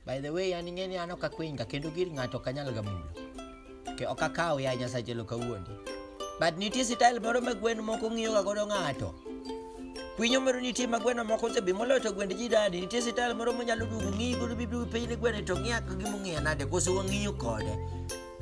By the way, an ing'e ni an ok akwinga kendo gir ng'ato ok anyal gamulo. Ke ok akaw ya Nyasaye lo kawuondi. But nitie style moro ma gwen moko ng'iyoga godo ng'ato. Kwinyo moro nitie ma gweno moko osebi moloyo to gwend ji dadi. Nitie style moro monyalo duogo ng'iyi godo bibi piny ne gweno to ng'iya ka gimong'iya nade koso wang'iyo kode.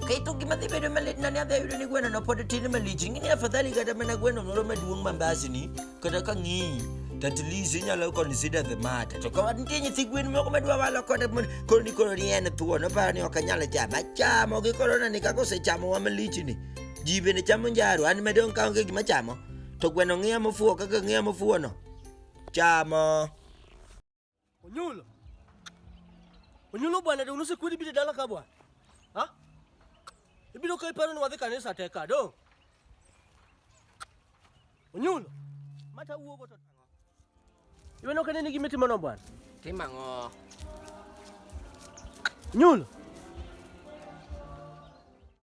Keto gima dhi bedo malit na ni adhi ayudo ni gweno no pod tin malich. Ing'e ni afadhali kata mana gweno moro maduong' mambasni kata ka ng'iyi to at least inyalo consider the matter. To ka nitie nyithi gwen moko madwa walo kode mon- koro ni koro ni en thuon oparo ni ok anyal chamo. Achamo gi koro nani kaka osechamo wa malichni. Ji bende chamo njaru an madong' ka onge gima chamo. To gweno ng'iya mofuwo kaka ng'iya mofuwono. Chamo. Onyulo. Onyulo bwana de unuse kweli bide dala ka bwana. Ha? Ibiro kai paro ni wadhi kanisa teka do. Onyulo. Mata uogo to tango. Iwe no kanene gi miti mano bwana. Tima ngo. Onyulo.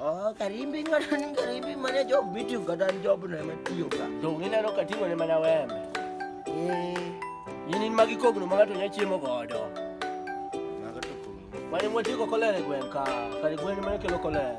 Oh, karimbi ngani karimbi mane jo bitu kata job na matiyo ka. To ngina no katingo ne mana wembe. Eh, yini magi kogno ma ngato nya chiemo godo. Maga to kogno. Mane mwatiko kolere gwen ka, kare gwen mane kelo kolere.